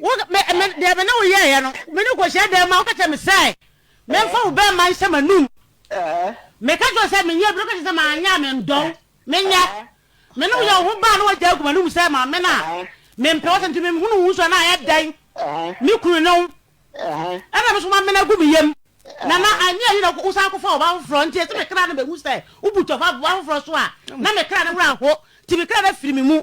Wo, me, me, deɛ me ne wo yɛeɛ no, me ne wo kɔhyia dan mu a, woka kyerɛ me sɛ memfa wo bɛɛma nhyɛ m'anum. Meka kyerɛ wo sɛ menyɛ bi na woka kyerɛ sɛ manyɛ a mendɔ wo. Menyɛ. Me ne wo yɛ wo ho baa na wagyae agu m'anum sɛ maame no a mempɛ wo sɛ nti menhunu wo nso a na ayɛ dɛn? Me kunu ne wo. Ɛna me nso mamene agu me yam. Na na anyi anyi na wosan kɔfaa ɔbaa foforɔ nti ɛsɛ me kra no bɛhu sɛ wobu tɔfa aboa foforɔ so a na me kra no werɛ aho nti me kra no afiri me mu.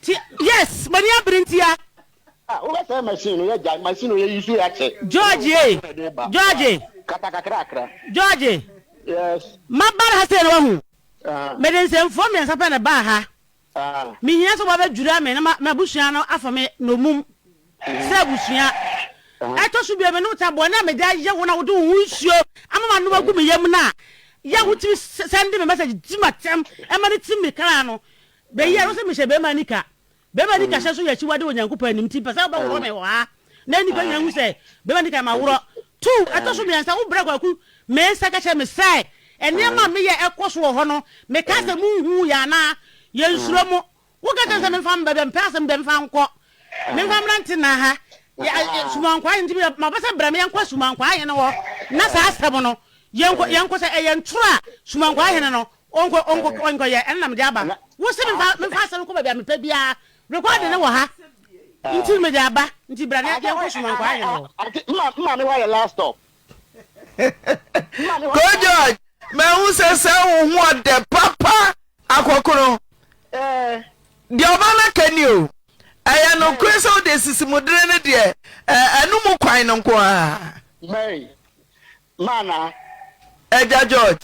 Ti yes m'ani abere ntia. Ah wobɛsɛe machine no yɛgyae machine no yɛ use akyɛ. George yei George. Kata kakrakra. George. Yes. Maba ha sei na wahu. Ahaa. Mede nsɛmfua mmiɛnsa pɛ na ɛbaa ha. Ahaa. Mehia sɛ wɔabɛdwira me na m'abusua no afa me nnommum sɛ abusua. Ɛtɔ so bio me ne wo te a bɔne a mede ayɛ wo na wode wo ho nsuo ama m'anom agu me yam no a yɛ a wotumi sɛnde me message tim atɛm ɛma no tim me kra no Bɛyi ano sɛ mehyɛ barima nika. Barima nika hyɛ nso yɛ akyiwade wɔ Nyankopɔn anim, nti mepɛ sɛ wobɛhohoro me wɔ ha, na nnipa nyinaa nhu sɛ barima nika yɛ me aworɔ. Two, ɛtɔ so mmiɛnsa, wobrɛ Kwaku Mensah ka kyerɛ me sɛ nneɛma a meyɛ ɛkɔ so wɔ hɔ no, mekaa sɛ monhuu yɛn anaa? Yɛnsuro mo. Woka kyerɛ me sɛ memfa mba baabi a mepɛ, asɛm deɛ memfa nkɔ. Memfa mmra ntena ha, Asuman Nkwaa Ahene, nti maba sɛ brɛ me yɛnkɔ Asuman Nkwaa Ahene hɔ na saa asɛm no yɛnkɔ, yɛnkɔ sɛ ɛyɛ ntoro a Suman Nkwaa Ahene no Ɔnkɔ ɔnkɔ ɔnkɔyɛ ɛna na mede aba. Wose memfa memfa asɛm no kɔ baabi a mepɛ biara. Recording no wɔ ha nti na mede aba nti bra na yɛnkɔ som ankɔ ayɛ no. Maame hɔ ayɛ last stop. Koo George mahu sɛ sɛ wo ho ɔdɛ papa akɔkono deɛ ɔba no aka ni o ɛyɛ nokore sɛ wode asisimudere no deɛ ɛno mu kwan no nko ara. Ma anaa? Agya George.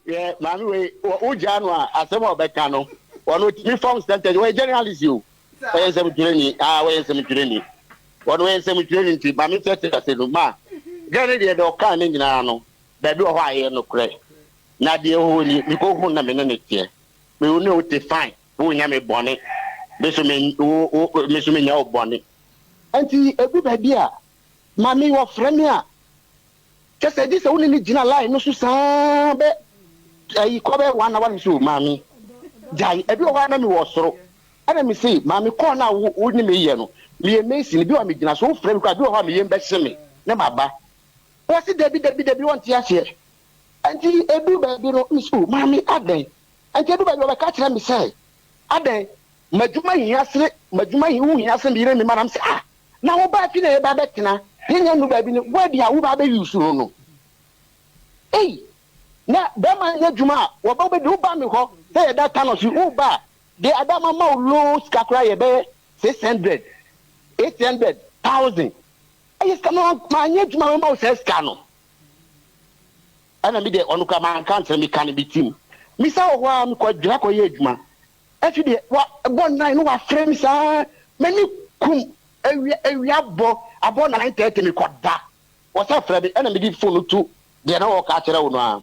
Hwɛ maame wei wɔ wo gyaa no a asɛm a ɔbɛka no ɔno otumi form sentence wɔyɛ journalist o wɔyɛ nsɛmtwerɛni aa wɔyɛ nsɛmtwerɛni ɔno wɔyɛ nsɛmtwerɛni nti maame sɛ te ase no ma gɛ ne deɛ deɛ ɔkaa ne nyinaa no baabi wɔ hɔ a ɛyɛ nokorɛ na deɛ ɛhɔ ni mekɔ hu na me ne ne teɛ me wo ne wo te fine wo nya me bɔne me so me wo me so me nya wo bɔne nti edu baabi a Mame wɔfrɛ me a kyɛ sɛ gye sɛ wo ne me gyina line no so saa bɛ ayi kɔ bɛ one hour nso maame gyae ebi wɔ hɔ a na me wɔ soro ɛna me se maame kɔɔ no a wo wo ne me yɛ no meyɛ mason bi wɔ a me gyina so wo frɛ me kɔ a bi wɔ hɔ a me yɛm bɛhye me ne ma ba wɔ se dabi dabi dabi wɔn te aseɛ ɛnti edu baabi no me se o maame adɛn ɛnti edu baabi wɔbɛka kyerɛ me sɛ Adɛn? M'adwuma hia sene, m'adwuma ho hia sene me yere ne me mma. Na mese, Ah, na wo ba fi na yɛba bɛtena, yɛnyɛ nnuru baabi no, woa deɛ a woba abɛyi wo soro no? Ei! Na bɛrima nyɛ adwuma a, wɔba wobɛdi, woba me hɔ sɛ yɛda Tanos yi, woba a, deɛ ada mama wo loan sika koraa yɛ bɛyɛ six hundred, eight hundred, thousand. Ɛyɛ sika, na manyɛ adwuma a mɛma wo saa sika no. Ɛna me deɛ ɔno koraa manka ankyerɛ me ka no me tirim me san wɔ hɔ ara me kɔ adwira kɔ yɛ adwuma afei deɛ wa bɔ nnan no wa frɛ me saa m'ani kum awia awia bɔ abɔ nine thirty me kɔ da wɔ sɛ frɛ me ɛna me di phone no tu deɛ na ɔka akyerɛ wo no a.